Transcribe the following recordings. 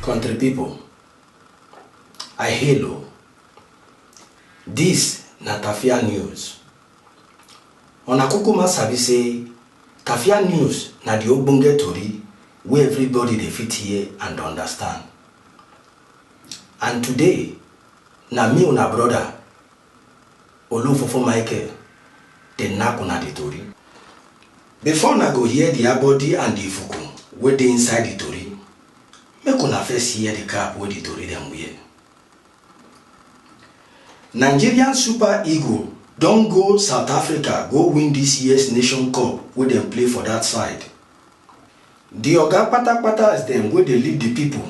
Country people, I hail o. This na Tafia News. Una kukuma sabi say Tafia News na the ogbonge tori wey everybody dey fit hear and understand. And today, na me una brother, Olofofo Michael, dey knack una the tori. Before una go hear the abodi and the ifuku wey dey inside the tori, make una first hear the cap wey the tori dem wear. Nigerian Super Eagle don go South Africa go win this years Nation Cup wey dem play for that side. Di oga kpata-kpatas dem wey dey lead di pipo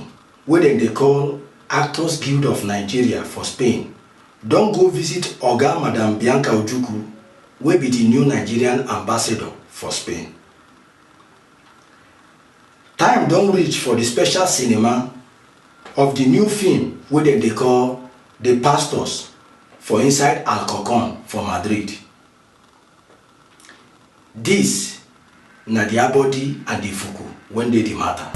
wey dem dey call Actors Guild of Nigeria for Spain don go visit oga Madam Bianca Ojukwu wey be di new Nigerian Ambassador for Spain. Time don reach for di special cinema of di new film wey dem dey call The Pastors for inside Alcorcon for Madrid. Dis na di abodi and di fuku wen dey di mata.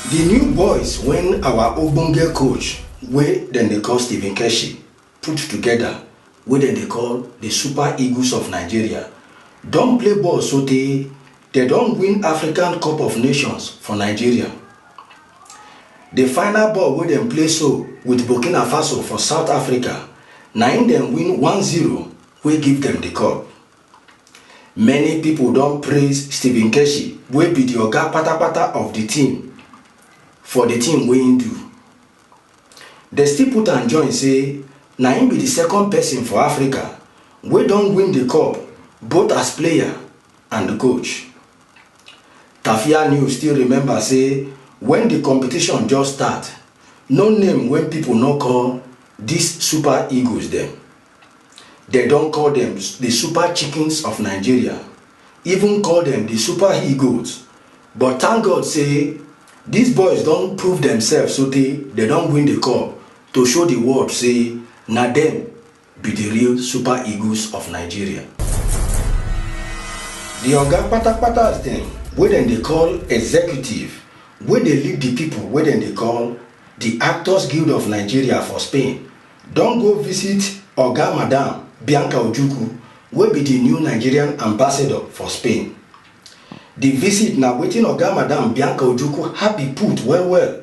Di new boys wen awa ogbonge coach wey dem dey call Stephen Keshi put togeda wey dem dey call di Super Eagles of Nigeria don play ball sotey Dem don win African Cup of Nations for Nigeria. The final ball wey dem play so with Burkina Faso for South Africa na im dem win one zero wey give dem the cup. Many people don praise Stephen Keshi wey be the oga patapata of the team for the thing wey im do. Dem still put am join say na im be the second person for Africa wey don win the cup both as player and di coach. Tafia News still remember say wen di competition just start, no name wey pipo no call dis Super Eagles dem. Dem don call dem di Super Chickens of Nigeria, even call dem di Super He-Goats but thank God say dis boys don prove demsef sotey dem don win di cup to show di world say na dem be di real Super Eagles of Nigeria. Di oga kpata-kpatas dem wey dem dey call executive wey dey lead di pipo wey dem dey call di Actors Guild of Nigeria for Spain don go visit oga Madam Bianca Ojukwu wey be di new Nigerian Ambassador for Spain. Di visit na wetin oga Madam Bianca Ojukwu happy put well-well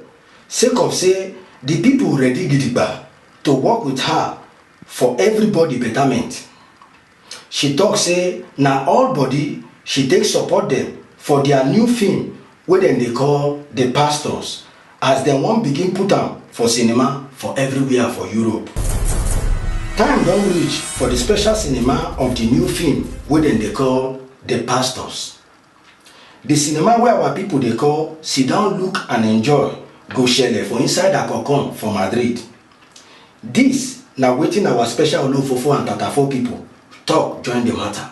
sake of say di pipo ready gidigba to work wit her for evribodi betament. She tok say na all bodi she take support dem for dia new feem wey dem dey call The Pastors as dem wan begin put am for cinema for evriwia for Europe. Time don reach for di special cinema of di new feem wey dem dey call The Pastors The cinema wey our people dey call Sit Down Look and Enjoy go shele for inside Akorkon for Madrid. Dis na wetin our special Olofofo and Tatafo people talk join the matter.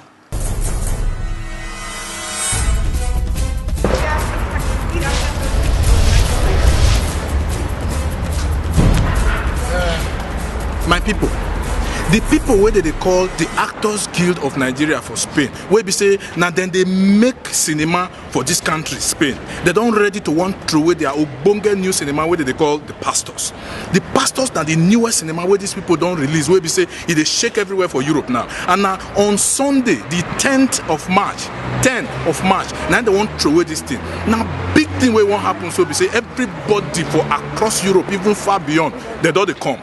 My people, the people wey dem dey call the Actors Guild of Nigeria for Spain wey be say na dem dey make cinema for dis country spain dem don ready to wan throway their ogbonge new cinema wey dem dey call the pastors the pastors na the newest cinema wey dis people don release wey be say e dey shake everywhere for europe now and na on sunday the 10th of march 10 of march na im dem wan throway dis thing na big thing wey wan happen so be say everybody for across europe even far beyond dem don dey come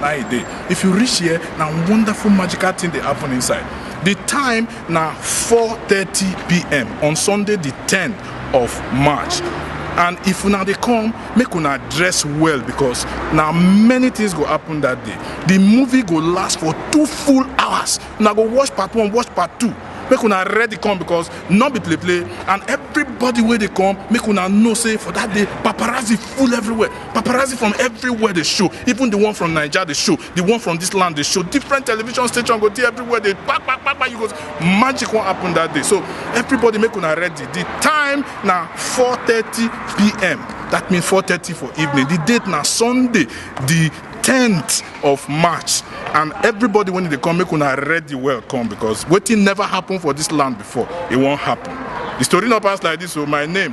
na e dey if you reach here na wonderful magical thing dey happen inside the time na 4:30pm on sunday the 10th of march and if una dey come make una dress well because na many things go happen that day the movie go last for two full hours una go watch part one watch part two make una ready come because no be play play and everybody wey dey come make una know say for that day paparazzi full everywhere paparazzi from everywhere dey show even the one from naija dey show the one from this land dey show different television station go dey everywhere dey kpa kpa kpa kpa you go magic wan happen that day so everybody make una ready the time na 4:30 pm that mean 4:30 for evening the date na sunday the 10th of march and everybody wey dey come make una ready well come because wetin never happen for this land before e wan happen the story no pass like this o my name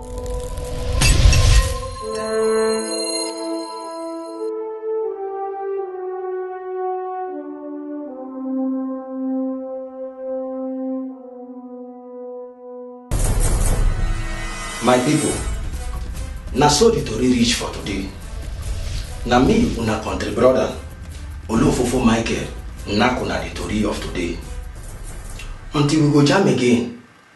my people na so the tori reach for today na me una country brother olofofo michael nakuna the tori of today until we go jam again